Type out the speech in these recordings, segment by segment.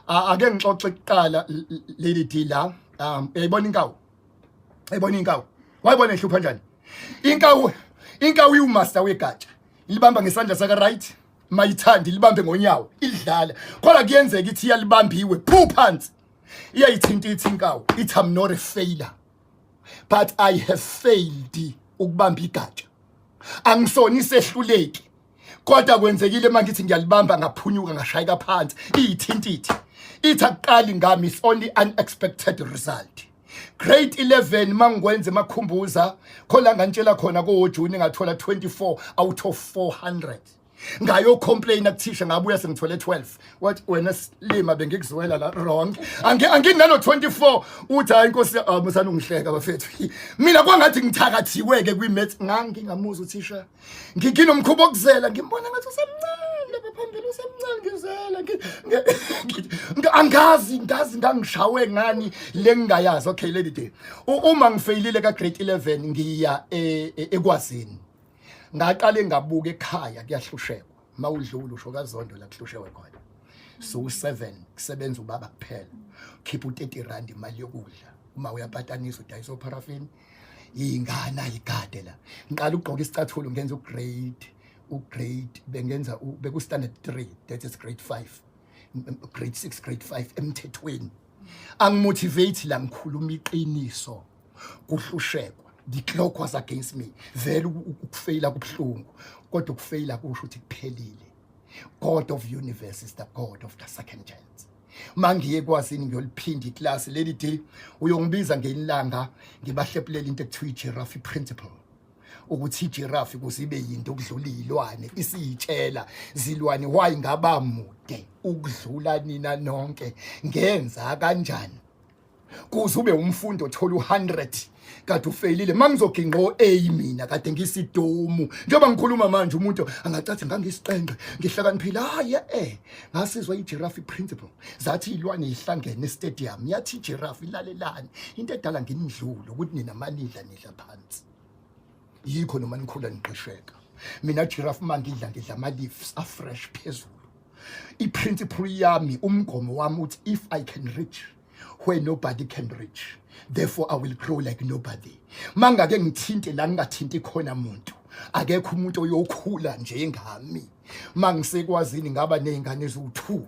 ake ngixoxe kuqala leli deal la um uyayibona inkawu uyayibona inkawu wayibona ehlupha njani inkawu inkawu iwumaster wegatsha ilibamba ngesandla saka right mayithandi libambe ngonyawo idlala kodwa kuyenzeka ithi iyalibambiwe phu phansi iyayithinta ithi inkawu ithi i'm not a failure but i have failed ukubamba igatsha angisona isehluleki kodwa kwenzekile uma ngithi ngiyalibamba ngaphunyuka ngashayeka phansi iyithintithe ithi akuqali ngami it's only unexpected result grade 11 mangikwenza emakhumbuza khola ngantshela khona kowojuni ngathola 24 out of 400 ngayo complain akuthisha ngabuya sengithole 12 what wena silima bengikuzwela la wrong angi anginalo 24 uthi hayi inkosi ah, musana ungihleka bafethu mina kwangathi ngithakathiweke kwi maths ngangingamuza uthisha ngigina umkhuba okuzela ngimbona ngathi usemncane lapha phambili usemncane ngizela angazi ngazi ngangishawe ngani lengingayazi okay lady day uma ngifeyilile ka grade 11 ngiya e, e, ekwazini ngaqale ngabuka ekhaya kuyahlushekwa mawudlula usho kazondo la kuhlushewe khona so u7 kusebenza ubaba kuphela khipha u30 rand imali yokudla uma uyapatanisa udayisa oparaffin ingana igade la ngiqala ukugqoka isicathulo ngenza ugrade ugrade bengenza beku-standard three that is grade five grade six grade five emthethweni angimotivate la ngikhuluma iqiniso kuhlushekwa the clock was against me vele ukufeyila kubuhlungu kodwa ukufeyila kusho ukuthi kuphelile god of universe is the god of the second chance mangiye kwasini ngiyoliphinda iklasi leli day uyongibiza ngelilanga ngibahlephulela into ekuthiwa i-giraffe principle ukuthi i-giraffe kuzibe yinto okudlula iyilwane isiyitshela zilwane why ngaba mude ukudlula nina nonke ngenza kanjani kuze ube umfundi othola u100 kade ufeyilile mangizogingqa o-a mina kade ngisidomu njengoba ngikhuluma manje umuntu angacathi ngangisiqenqe ngihlakaniphile hayi e-e ngasizwa i-giraffe principle zathi iy'lwane yihlangene estadium yathi i-giraffe ilalelani into edala nginidlule ukuthi nina manidla nidla phansi yikho noma nikhula niqesheka mina giraffe uma ngidla ngidla ama-leaves afresh phezulu i-principle yami umgomo wami uthi if i can reach where nobody can reach therefore i will grow like nobody mangake ngithinte la ngingathinti khona muntu akekho umuntu oyokhula njengami mangisekwazini ngaba nezingane eziwu-2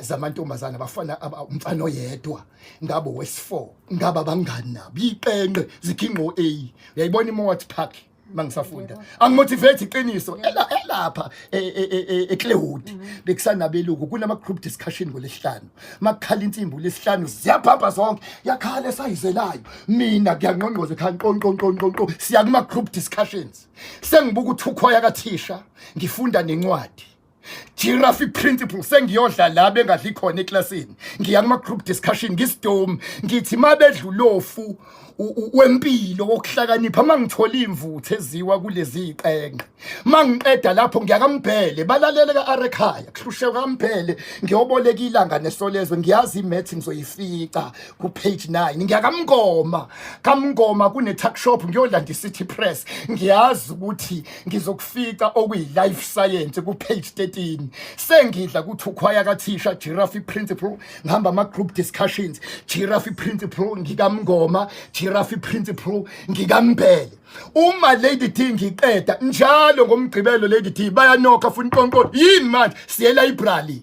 zamantombazana bafana umfana oyedwa ngabo wesi4 ngaba bangani nabo yiqenqe zikhinqo A uyayibona iMoat Park mangisafunda angimotivate iqiniso elapha eclewood e, e, e, mhm. bekusanabeluku kunama group discussion ngolesihlanu makukhala insimbi lesihlanu ziyabhabha zonke yakhala esayizelayo mina ngiyangqongqoza ekhaya nqonqonqonqonqo siya kuma group discussions sengibuka uthukhoya kathisha ngifunda nencwadi Giraffe principle sengiyodla la bengadli khona eklasini ngiya kuma group discussion ngisdom ngithi mabedlulofu wempilo wokuhlakanipha mangithola imvuthu eziwa kulezi iqenqe mangiqeda lapho ngiyakambhele balalele ka arekhaya kuhlushe kambhele ngiyoboleka ilanga nesolezwe ngiyazi imath ngizoyifica ku page 9 ngiyakamngoma kamngoma kune tuck shop ngiyolanda city press ngiyazi ukuthi ngizokufica okuyi-life science ku-page 13 sengidla kuthi ukhwaya kathisha giraffe principle ngihamba ama-group discussions giraffe principle ngikamngoma giraffe principle ngikambhele uma lady t ngiqeda njalo ngomgqibelo lady t bayanokha funa iqonqo yini manje siyelayibrali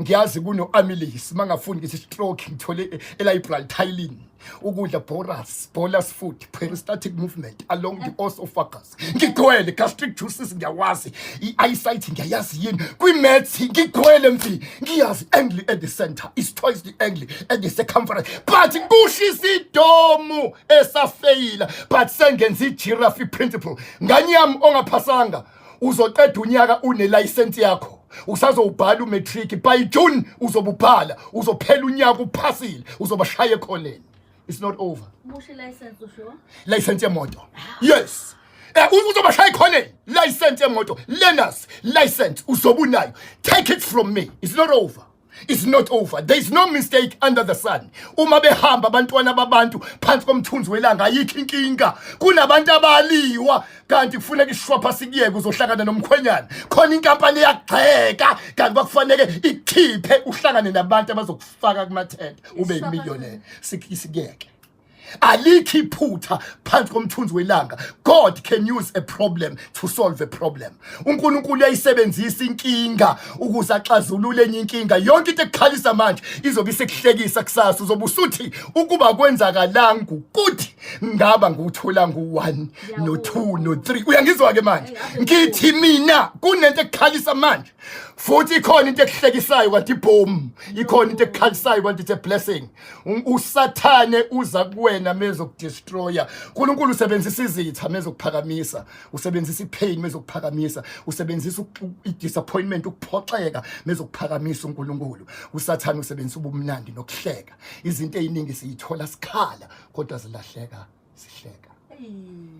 ngiyazi kuno-amylase uma ngafuni ngithi stroke ngithole elibrary tylin ukudla boras bolas food peristatic movement along the osophagus ngigcwele gastric juices ngiyawazi i-eyesight ngiyayazi yini kwi-mats ngigcwele mfi ngiyazi angle at the center is twice the angle at the circumference but kushisa idomu esafeyila but sengenza i-giraffe principle nganyami ongaphasanga uzoqeda unyaka unelayisensi yakho usazowubhala umatric by june uzobubhala uzophela unyaka uphasile uzobashaya ekhoneni it's not over Bushe license usho? license yemoto yes Eh, u- uzobashaya ekhoneni license yemoto learners license uzobunayo take it from me it's not over is not over there is no mistake under the sun uma behamba abantwana babantu phansi komthunzi welanga ayikho inkinga kunabantu abaliwa kanti kufuneka ishwapha sikuyeke uzohlangana nomkhwenyana khona inkampani eyagxeka kanti bakufaneke ikhiphe uhlangane nabantu abazokufaka kumathenda ube yimillionaire sikuyeke alikho iphutha phansi komthunzi welanga god can use a problem to solve a problem unkulunkulu uyayisebenzisa inkinga ukuze axazulule enye inkinga yonke into ekukhalisa manje izobe isekuhlekisa kusasa uzobe usuthi ukuba kwenzakalanga ukuthi ngaba nguthola ngu-1 no-2 no-3 uyangizwa-ke manje ngithi mina kunento ekukhalisa manje futhi ikhona into ekuhlekisayo kanti boom ikhona into ekukhalisayo kanti it's a blessing usathane uza kuwena mezokudestroya uNkulunkulu usebenzisa izitha mezokuphakamisa usebenzisa ipain mezokuphakamisa usebenzisa idisappointment ukuphoxeka mezokuphakamisa uNkulunkulu usathane usebenzisa ubumnandi nokuhleka izinto eziningi siyithola sikhala kodwa zilahleka sihleka